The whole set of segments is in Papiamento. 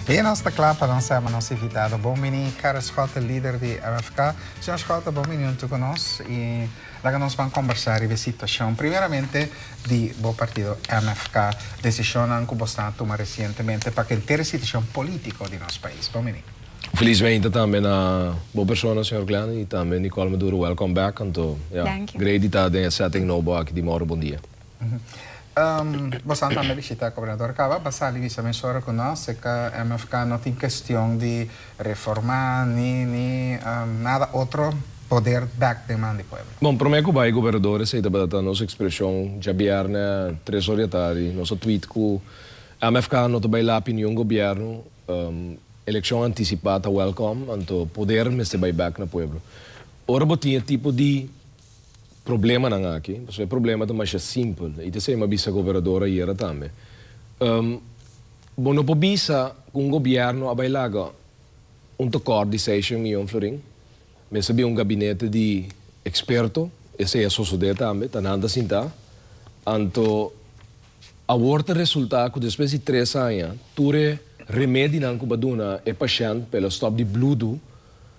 Bien nos ta kla pa lansa ma nos invitado bon bini Karel Schotten lider di RFK señor Schotten bon bini huntu ku nos i laga nos ban kombersá riba e situashon primeramente di bo partido MFK desishonnan ku bo sa tuma resientemente pa kenter e situashon polítiko di nos pais bon bini. Felismente tambe na bo persona señor Glenn i tambe Nicole Maduro welcome back anto ya Dank u. grei di ta den e setting nou bo aki di Morro Bondia. Bosan tambe bishita Gobernador Cava pa sali bisa mes ora cu nos si ca MFK no tin kestion di reforma ni ni nada otro poder bek deman di pueblo. Bon, prome cu bay Gobernador esey tabata ta nos expresion djabierne tres or di atari nos a tweet cu MFK no ta bay lapi niun gobierno, eleccion anticipa ta welcome anto poder mester bay bek na pueblo. Ora bo tin e tipo di problemanan aki, pasobra e problema ta masha simpel. I ta esei mi a bisa ku operador ayera tambe. Bo no por bisa ku un gobièrnu a bai laga un tekòrt di seishen miyon florin? Mester bin un gabinete di eksperto, esei a sosodé tambe, ta nan ta sintá. Anto awor ta resultá ku despues di tres aña tur e remedinan ku bo a duna e pashènt pa el a stòp di bludu,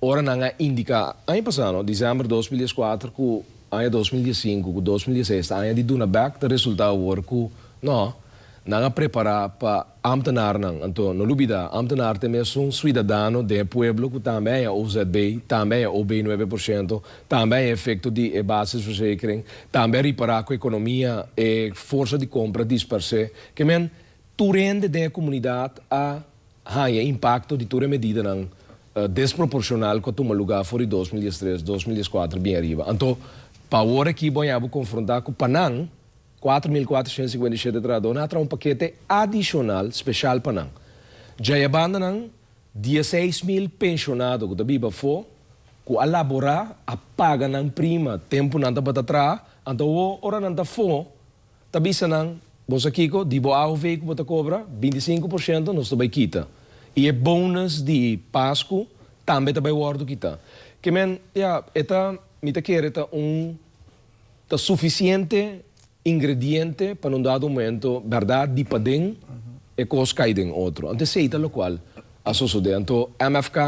Ora nan a indiká aña pasá, no, dicèmber dos mil dieskuater ku aña dos mil diessinku ku dos mil diesseis ta aña di duna bèk ta resultá awor ku, no, nan a prepará pa ámtenarnan. Anto no lubidá, ámtenar ta mesun suidadano den e pueblo ku tambe aña OZB, tambe aña OB nuebe por shento, tambe aña efekto di e basisverzekering, tambe a ripará ku ekonomia e forsa di kompra dispersé. Ke men, tur hende den e komunidat a. haña impakto di tur e medidanan desproporshonal ku a tuma lugá for di dos mil diestres, dos mil dieskuater bien ariba. Anto, pa awor akí bo a haña bo konfrontá ku pa nan, kuater mil kuater shent sikuenta i shete trahadó nan a traha un pakete adishonal speshal pa nan. Dja i a banda nan, dieseis mil penshonado ku ta biba afó, ku a laborá, a paga nan prima tempu nan tabata traha, anto awor ora nan ta afó, ta bisa nan, Bo sa kiko, di bo AOV ku bo ta kobra, binti i sinku por shento nos ta bai kita. I e bonus di Pasku tambe ta bai wòrdu kitá. Ke men, ya, e ta, mi ta kere ta un, ta sufisiente ingrediente pa non dado momento bèrdat di paden e kos kai den otro. Anto esei ta lokual a sosodé. Anto MFK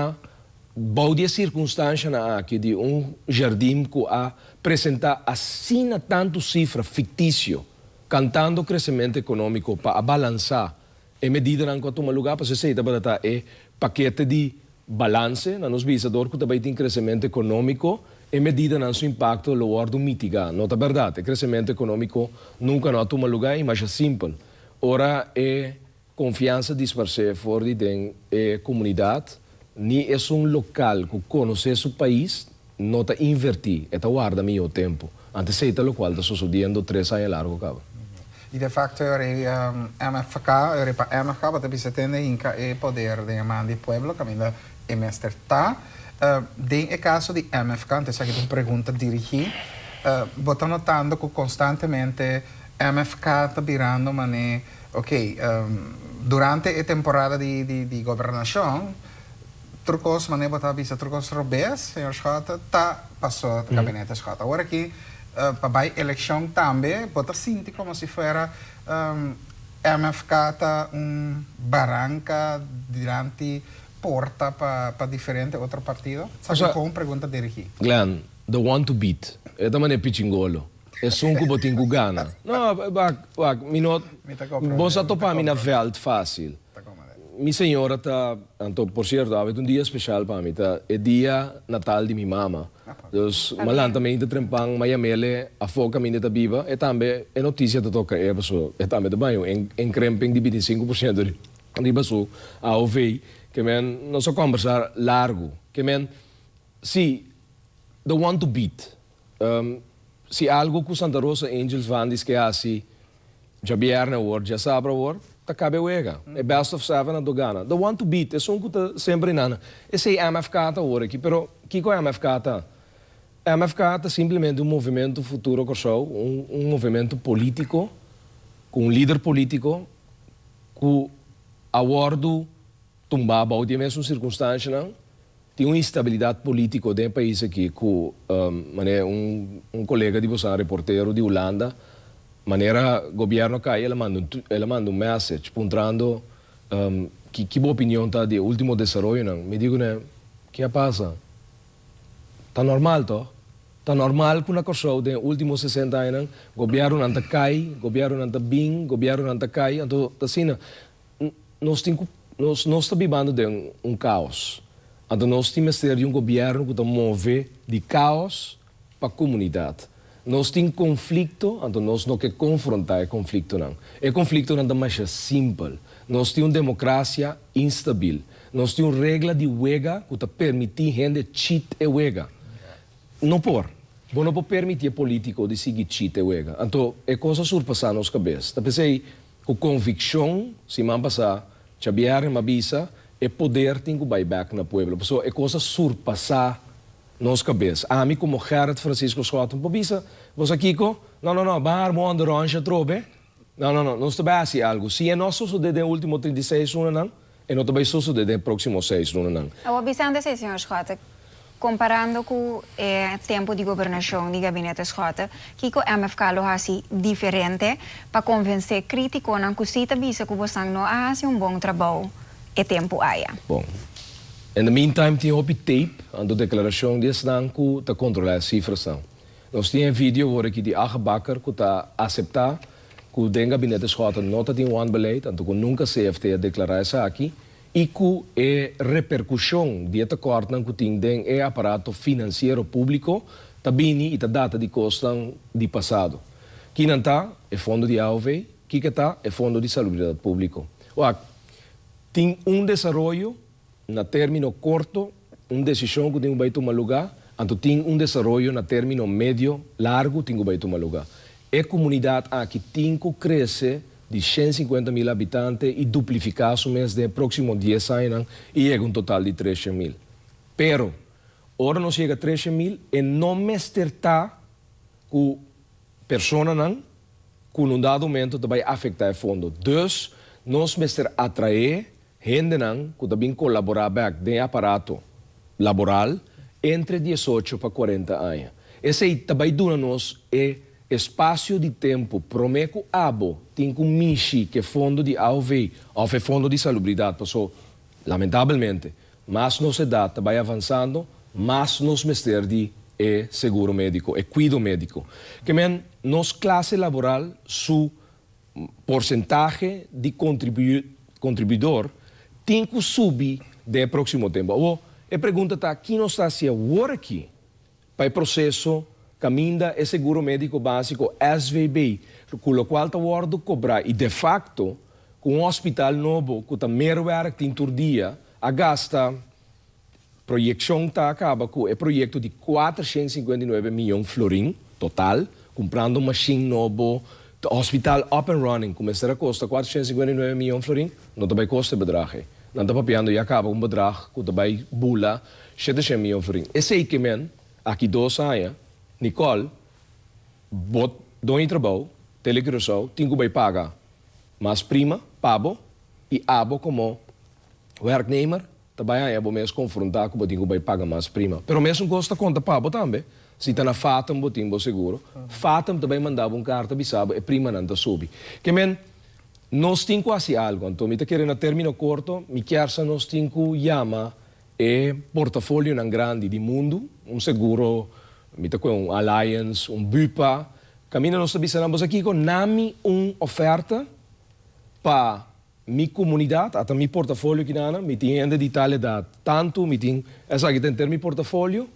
Bou di e sirkunstanshanan aki di un jardin ku a presentá asina tantu sifra fiktisio, kantando kresemento ekonómiko pa a balansá e medidanan ku a tuma lugá, pas esei tabata ta e pakete di balanse na nos bisa, dor ku ta bai tin kresemento ekonómiko, e medidanan su impakto lo wòrdu mitigá. No ta bèrdat, e kresemento ekonómiko nunka no a tuma lugá i masha simpel ora e. Konfiansa disparsé for di den e komunidat, ni esun lokal ku konosé su pais no ta invertí, e ta warda mihó tempu, antes esei ta lokual ta sosodiendo tres aña largu kaba. I de fakto e ora ei MFK, e ora ei pa MFK tabata bisa tende hinka e poder den e man di e pueblo kaminda e mester ta. Den e kaso di MFK, anto esaki ta un pregunta dirigí, bo ta notando ku konstantemente MFK ta birando manera, Ok, durante e temporada di gobernashon, tur kos, manera bo ta bisa, tur kos robes, señor Schott, ta pasó Gabinete Schott. Awor aki, pa bai elekshon tambe, bo ta sinti komo si fuera MFK ta un baranka dilanti porta pa diferente otro partido? Sa ku kon pregunta dirigí. Glenn, the one to beat. E ta manera Pichingolo. Esun ku bo tin ku gana. No, wak, wak, mi no. Bo sa topa mi na vèlt fásil. Mi señora ta, anto, por sierto, awe ta un dia spesial pa mi, ta e dia natal di mi mama. Dus m'a lanta mente trempan, m'a yam'ele afó kaminda e ta biba, e tambe e notisia ta toka e, paso e tambe ta baña un enkremping di binti i sinku por siento riba su AOV. Ke men, nos a kòmbersá largu. Ke men, sí, the one to beat. Si algo cu Santa Rosa Angels Vandy's ke haci djabièrnè awor, djasabra awor, ta cabe wega. E best of seven a do gana. The one to beat, esun cu ta semper hinana. Esey MFK ta awor aki, pero kico MFK ta? MFK ta simplemente un movimento Futuro Kòrsou, un movimento politico cu un lider politico cu a wordo Tumbá bou di e mesun sirkunstanshanan, tin un instabilidat polítiko den e pais akí ku, manera un kolega di boso a reportero di Hulanda, manera gobièrnu a kai el a manda un el a manda un mèssage puntrando, ki ki bo opinion ta di e último desaroyonan? Mi di kuné, Ke a pasa? Ta normal tòg? Ta normal ku na Kòrsou den e último sesenta añanan gobièrnunan ta kai, gobièrnunan ta bin, gobièrnunan ta kai, anto ta asina. Nos tin ku nos nos ta bibando den un kaos, anto nos tin mester di un gobièrnu ku ta move di kaos pa komunidat. Nos tin konflikto, anto nos no ke konfrontá e konfliktonan. E konfliktonan ta masha simpel. Nos tin un demokrasia instabil. Nos tin un regla di wega ku ta permití hende chit e wega. No por. Bo no por permití e polítiko di sigui chit e wega. Anto e kos a surpasá nos kabes. Ta p'esei. Ku konvikshon, siman pasá Chabièrnè m'a bisa, e poder tin ku bai bèk na pueblo. Pasobra e kos a surpasá nos kabes. Ami komo Gerrit Francisco Schouten por bisa, Bo sa kiko? No, no, no, bahar bo ondorònsha atrobe. No, no, no, nos ta bai hasi algu. Si e no a sosodé den último trinta i seis unanan, E no ta bay sosode den e proximo seis lunanan. Awor Vicente say, Señor Schotten, comparando cu e tempo di gobernacion di Gabinete Schotten, kico MFK lo haci diferente pa convence criticonan cu si ta bisa cu bosnan no a haci un bon trabou e tempo aya? Bon. In the meantime tin hopi tape, anto declaracion di esnan cu ta controla e cifrasnan. Nos tin e video awor aki di Agebakker cu ta acepta cu den Gabinete Schotten no ta tin wanbeleid, anto cu nunca CFT a declara esaki, y cu e repercusion di e tekortnan cu tin den e aparato financiero publico ta bini y ta data di cosnan di pasado. Kinan ta e fondo di AOV? Kico ta e fondo di salubridad publico? Wak, tin un desaroyo Na término korto, un desishon ku tin ku bai tuma lugá, anto tin un desaroyo na término medio largu tin ku bai tuma lugá. E komunidat aki tin ku krese di shen sinkuenta mil habitante i duplifiká su mes den e próksimo dies añanan i yega un total di tres shen mil. Pero, ora nos yega tres shen mil e no mester ta ku personanan ku na un dado momento ta bai afektá e fondo. Dus nos mester atraé Hendenan cu ta bin colabora bek den e aparato laboral entre diesocho pa cuarenta aña. Esey ta bay duna nos e espacio di tempo prome cu abo tin cu mishi cu e fondo di AOV of e fondo di salubridad, paso, lamentabelmente, mas nos edad ta bay avanzando, mas nos mester di e seguro medico, e cuido medico. Kemen nos clase laboral su. Porsentahe di kontribuidor tin ku subi den e próksimo tempu. Awor, e pregunta ta ki nos ta hasi awor aki pa e proseso kaminda e seguro médiko básiko, SVB, ku lokual ta wòrdu kobrá i defakto ku un hòspital nobo ku ta merwèrk tin tur dia a gasta Proyeccion ta caba cu e proyecto di cuatrocientos cincuenta y nuebe miyon florin total, cumprando un machine nobo, ta hospital up and running, cu mester a costa cuatrocientos cincuenta y nuebe miyon florin, no ta bay costa e bedrag ey. Nan ta papiando ya caba cu un bedrag cu ta bay bula shetecien miyon florin. Esey ke men, aki dos aña, Nicole, bot don e trabao, Tele Curaçao, tin cu bay paga mas prima pabo y abo como werknemer, Ta bai haña bo mes konfrontá ku bo tin ku bai paga mas prima. Pero mesun kos ta konta pa bo tambe. Si ta na Fathom bo tin bo seguro, Fathom ta bai manda bo un karta bisa bo e primanan ta subi. Ke men, nos tin ku hasi algu. Anto mi ta kere na término korto, mi kier sa nos tin ku yama e portafolionan grandi di mundu, un seguro, mi ta kue un Allianz, un Bupa, kaminda nos ta bisa nan, Bosa kiko, nami un ofèrta pa. Mi comunidad, ata mi portafolio aki nana, mi tin hende di tal edad, tanto, mi tin esaki ta enter mi portafolio,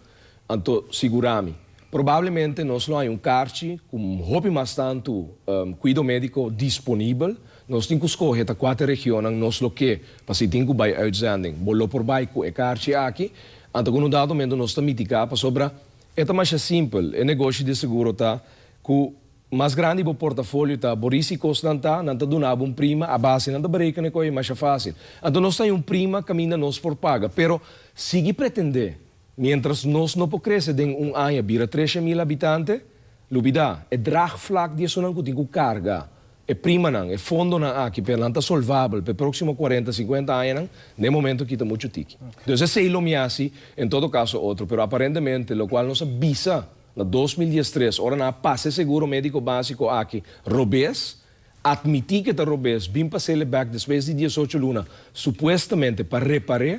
anto sigurami. Probablemente nos lo hay un karchi cu hopi mas tanto cuido medico disponibel. Nos tin cu scoge ta cuater regionnan nos lo ke, pa si tin cu bay uitzending, bo lo por bay cu e karchi aki, anto cu na un dado momento nos ta mitiga, pasobra e ta masha simpel, e negoshi di seguro ta cu Cu mas grandi bo portafolio ta, bo risi cosnan ta, nan ta duna bo un prima, a base nan ta bereca n'e coye masha facil. Anto nos ta hay un prima caminda nos por paga. Pero sigui pretende, mientras nos no por crece den un aña bira treshen mil habitante, lubida. E draagvlak di esonan cu tin cu carga e primanan, e fondonan aki, pero nan ta solvabel p'e proximo cuarenta, cincuenta añanan, n'e momento kita mucho tiki. Entonces esey lo mi haci, en todo caso otro, pero aparentemente locual nos a bisa, Na dos mil diestres, ora nan a pasa e seguro médiko básiko aki, Robes atmití ku e ta robes bin pa Cele Back despues di diesocho luna, supuestamente pa repar'é.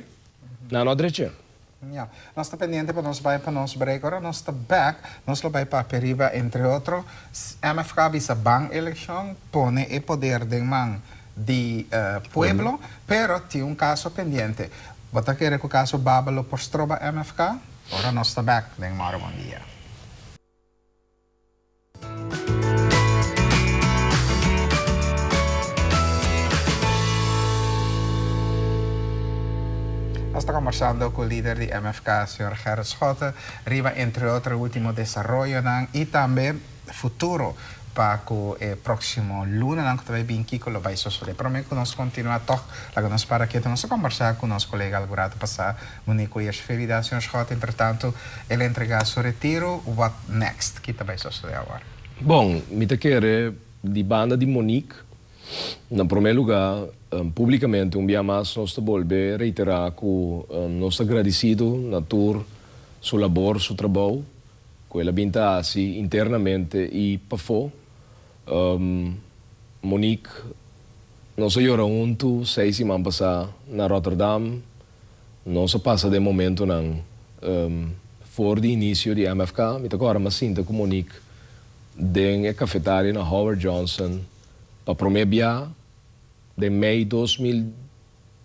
Nan no a drech'é. Ya. Nos ta pendiente pa nos bai pa nos break. Ora nos ta back, nos lo bai papia riba, entre otro, MFK a bisa ban elekshon, pone e poder den man di pueblo, pero tin un kaso pendiente. Bo ta kere ku kaso Baba lo por stroba MFK? Ora nos ta bek den Morabon dia. Nos ta kombersando ku lider di MFK señor Gerrit Schotte riba entre otro ultimo desaroyonan y tambe futuro pa ku e proksimo lunanan ku ta bai bin kiko lo bai sosode. Pero me ku nos kontinua tok laga nos para keto nos a kombersa ku nos kolega algu rato pasá. Uni cu Jesh Felida Señor Scott Entretanto el a entrega su retiro What next? Ki ta bay sosode awor? Bon, mi ta kere di banda di Monique, na prome luga, publicamente un bia mas nos ta bolbe reitera cu nos ta gradicido na tur su labor, su trabou cu el a bin ta haci internamente y pafo. Monique, nos a yora huntu seis siman pasa na Rotterdam. Nos a pasa den momentonan for di inicio di MFK. Mi ta kòrda m'as sinta ku Monique den e kafetaria na Howard Johnson pa promé bia den mei dos mil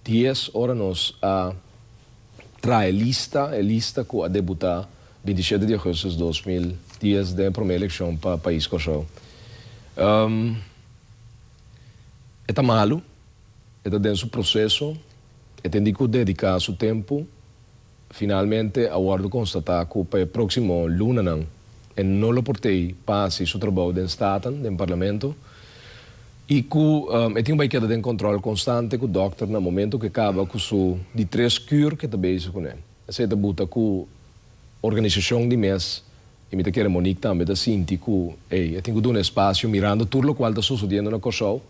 dies ora nos a traha e lista, e lista ku a debutá binti shete di augustus dos mil dies den e promé elekshon pa pais Kòrsou. E ta malu. E ta den su proseso, e ten di ku dediká su tempu. Finalmente a wòrdu konstatá ku pa e próksimo lunanan e no lo por tei pa hasi su trabou den Staten, den Parlamento, i ku e tin bai keda den kòntròl konstante ku dòkter na momentu ku e kaba ku su di tres kür ku e ta bezig kuné. Esei ta buta ku organisashon di mes. I mi ta kere Monique tambe ta sinti ku ey a tin ku duna espasio mirando tur lokual ta sosodiendo na Kòrsou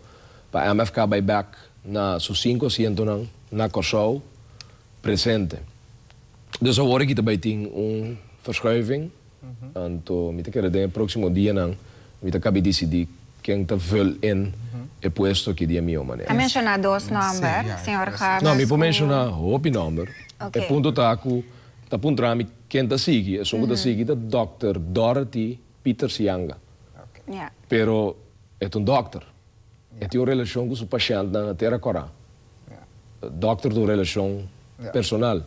pa MFK bai bèk na su sinku asientonan na Kòrsou presente. Dus awor aki ta bai tin un verschuiving anto mi ta kere den e próksimo dianan mi ta kabi disidí ken ta vùl in e puesto aki di e mihó manera. Ta menshoná dos nòmber, señor Harris u. No, mi por menshoná hopi nòmber. E punto ta ku ta puntra mi Ken ta sigui? Esun ku ta sigui ta dòkter Dorothy Pieters Yanga. Pero e ta un dòkter. E tin un relashon ku su pashèntnan na tera Kòrá. Dòkter ta un relashon personal.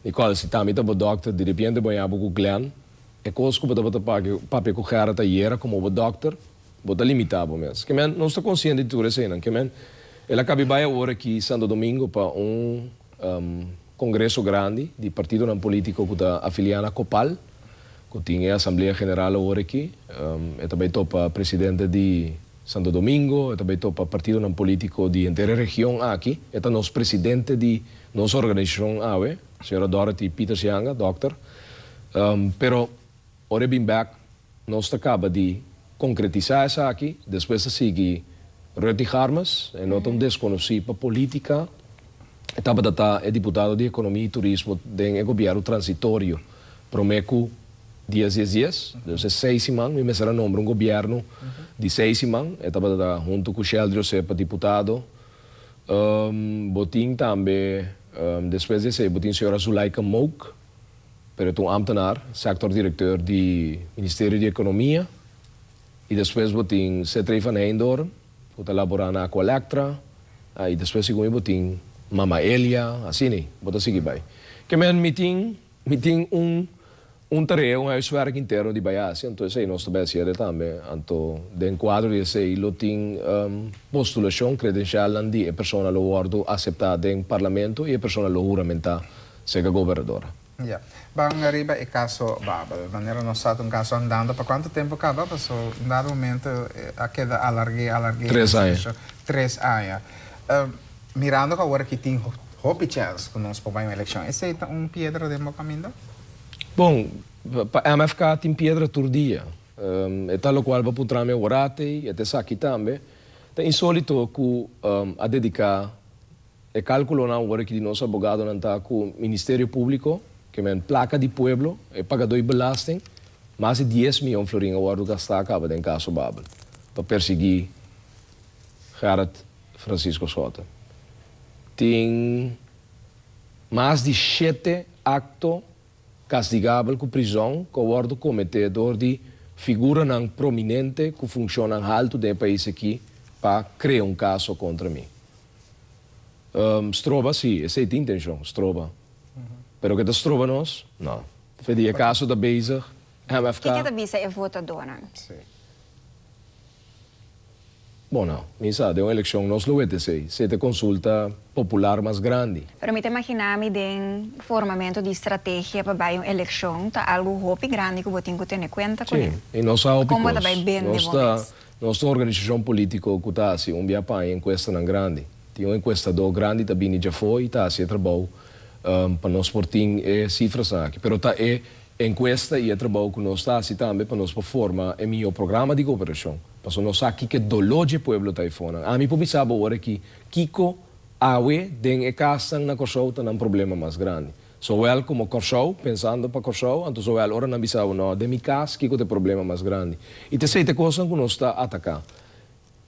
Nicole, si Tammy ta bo dòkter, di repiente bo a yabi bo ku Glenn. E kos ku bo tabata papia ku Gerard ayera komo bo dòkter. Bo ta limitá bo mes. Kemen, nos ta konsiente di tur eseinan. Kemen, el a kabi bai awor aki Santo Domingo pa un kongreso grandi di partidonan polítiko ku ta afiliá na Copal, ku tin e asamblea general awor aki. E ta bai topa presidente di Santo Domingo, e ta bai topa partidonan polítiko di henter e region aki. E ta nos presidente di nos organisashon awe, señora Dorothy Pietersjanga, dòkter. Pero. Ora e bin bek, nos ta kaba di konkretisá esaki, despues ta sigui Ruthie Harmes, e lo ta un deskonosí pa polítika, e tabata ta e diputado di ekonomia i turismo den e gobièrnu transitorio promé ku dies dies dies, dus e seis siman, mi mester a nombra un gobièrnu di seis siman, e tabata ta huntu ku Sheldry Osé pa diputado. Bo tin tambe, despues di esei, bo tin señora Zulaika Mouk. pero ta un ambtenaar, sector directeur di Ministerio di Economia, y despues bo tin Setray van Heijndorp cu ta labora na Aqualectra, ah, y despues segun mi bo tin Mama Elia, asina y bo ta sigui bay. Ke men mi tin, mi tin un, un tarea, un huiswerk interno di bay haci, anto esey nos ta bay hacier e tambe, anto den cuadro di esey lo tin postulacion, credencialnan di e persona lo wordo acepta den Parlamento y e persona lo huramenta. Sega Gobernador. Ya. Ban riba e caso Babel. Manera nos sa ta un caso andando. Pa cuanto tempo caba? Paso un dado momento a keda alargue, alargue e discusion. Tres aña. Tres aña. Mirando cu awor aki tin hopi chance cu nos por bay un eleccion. Esey ta un piedra den bo caminda? Bon, pa MFK tin piedra tur dia. E ta locual pa puntra mi awor ati, e ta esaki tambe. Ta insolito cu a dedica E kalkulonan wòrdu ki di nos abogadonan ta ku Ministerio Públiko, ke men plaka di pueblo, e pagadó di belasting, mas di dies mion florin a wòrdu gastá akaba den kaso Babel pa persiguí Gerard Francisco Soto. Tin mas di shete akto kastigabel ku prizòn ku a wòrdu kometé dor di figuranan prominente ku funshonnan haltu den e pais aki pa krea un kaso kontra mi. Stroba si, esei ta intenshon, stroba. Pero ke ta stroba nos? No. Fe di e kaso ta bezig, MFK. Kiko ta bisa e votadonan? Bon nou, mi sa, den un elekshon nos lo wet esei, si e ta e konsulta popular mas grandi. Pero mi ta imaginá mi den formamento di stratehia pa bai un elekshon ta algu hopi grandi ku bo tin ku tene kuenta kuné. Si, i nos sa hopi kos. Kon bo ta bai bende bo mes? Nos ta un organisashon polítiko ku ta hasi un bia paña enkuestanan grandi. Tin un enkuestadó grandi ta bini djafó i ta hasi e trabou pa nos por tin e sifrasnan aki. Pero ta e enkuesta i e trabou ku nos ta hasi tambe pa nos por forma e mihó programa di kooperashon, pasobra nos sa kiko e doló dje pueblo ta eifonan. Ami por bisa bo ora aki kiko awe den e kasnan na Kòrsou ta nan problema mas grandi. Zoel, Como Corsou, pensando pa Corsou, anto Zoel ora nan bisa bo no den mi cas kico ta e problema mas grandi. Y ta esey ta e cosnan cu nos ta ataca.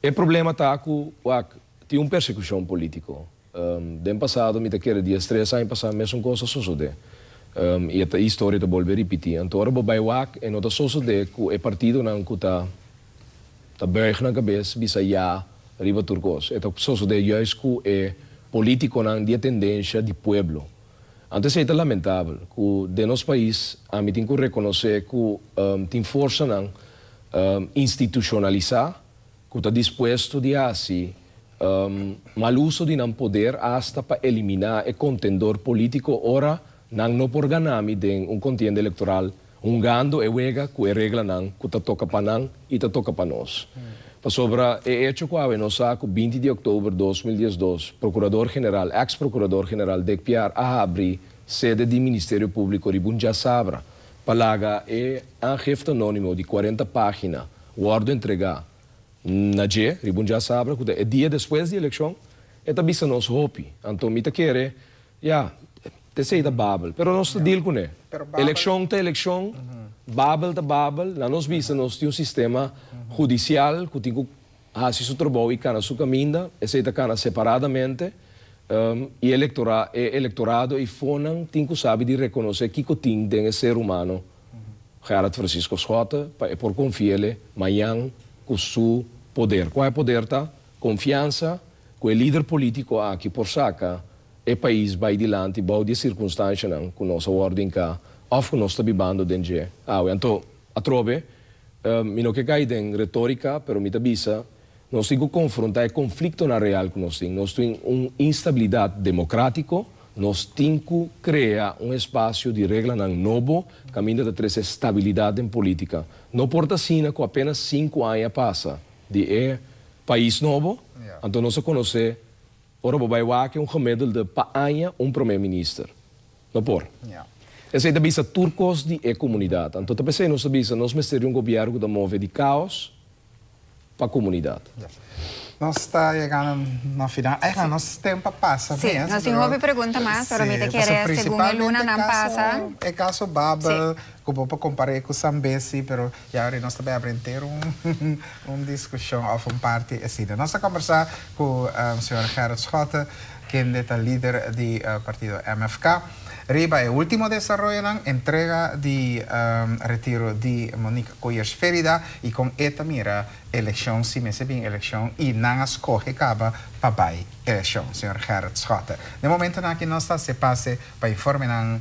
E problema ta cu wak tin un persecucion politico. Den pasado mi ta kere dies tres aña pasa mesun cos a sosode. Y e historia ta bolbe ripiti. Anto ora bo bay wak e no ta sosode cu e partidonan cu ta. Ta buig nan cabes bisa ya riba tur cos. E ta sosode juist cu e politiconan di e tendencia di pueblo. Antes ey ta lamentabel cu den nos pais ami tin cu reconoce cu tin forsanan institucionalisa cu ta dispuesto di haci mal uso di nan poder hasta pa elimina e contendor politico ora Nan no por gana mi den un contienda electoral hungando e wega cu e reglanan cu ta toca pa nan y ta toca pa nos. Pasobra e hecho cu awe nos sa cu binti di oktober dos mil diesdos Procurador General, ex Procurador General Dick Piar a habri sede di Ministerio Publico riba un djasabra pa laga e aangifte anonimo di cuarenta pagina wordo entrega na dje riba un djasabra cu ta e dia despues di eleccion e ta bisa nos hopi. Anto mi ta kere Ya, esei ta Babel, pero nos ta deal kuné. Elekshon ta elekshon, Babel ta Babel, na nos bista nos tin un sistema hudisial ku tin ku hasi su trabou i kana su kaminda, esei ta kana separadamente, i e elektorado i fonan tin ku sabi di rekonosé kiko tin den e ser humano Gerard Francisco Schotten pa e por konfi'é mañan ku su poder. Kua e poder ta? Konfiansa ku e lider polítiko aki por saka e pais bai dilanti bou di e sirkunstanshanan ku nos a wòrdu hinká òf ku nos ta bibando den dje awe. Anto, atrobe, mi no ke kai den retórika, pero mi ta bisa, nos tin ku konfrontá e konfliktonan real ku nos tin. Nos tin un instabilidat demokratiko, nos tin ku krea un espasio di reglanan nobo kaminda ta trese stabilidat den polítika. No por ta asina ku apénas sinku aña pasa, di e pais nobo, anto nos a conoce ora bo bay wak un gemiddelde pa aña un prome minister. No por. Esey ta bisa tur cos di e comunidad, anto ta pesey nos ta bisa nos mester di un gobierno cu ta move di caos pa comunidad. Nos ta yegando na final, ay no, nos tempo a pasa mes, pero. Si, nos tin hopi pregunta mas, pero mi ta kere segun e lunanan pasa. E caso Babel, cu bo por compar'e cu Sambesi, pero. Yauri nos ta bèbra henter un diskushon òf un parti asina. Nos a kombersá ku señor Gerrit Schotten, kende ta lider di partido MFK, riba e último desaroyonan, entrega di retiro di Monique Coyers Ferida i kon e ta mira elekshon, si mester bin elekshon i nan a skohe kaba pa bai elekshon. Señor Gerrit Schotten. Den momentunan aki nos ta hasi e pase pa informenan.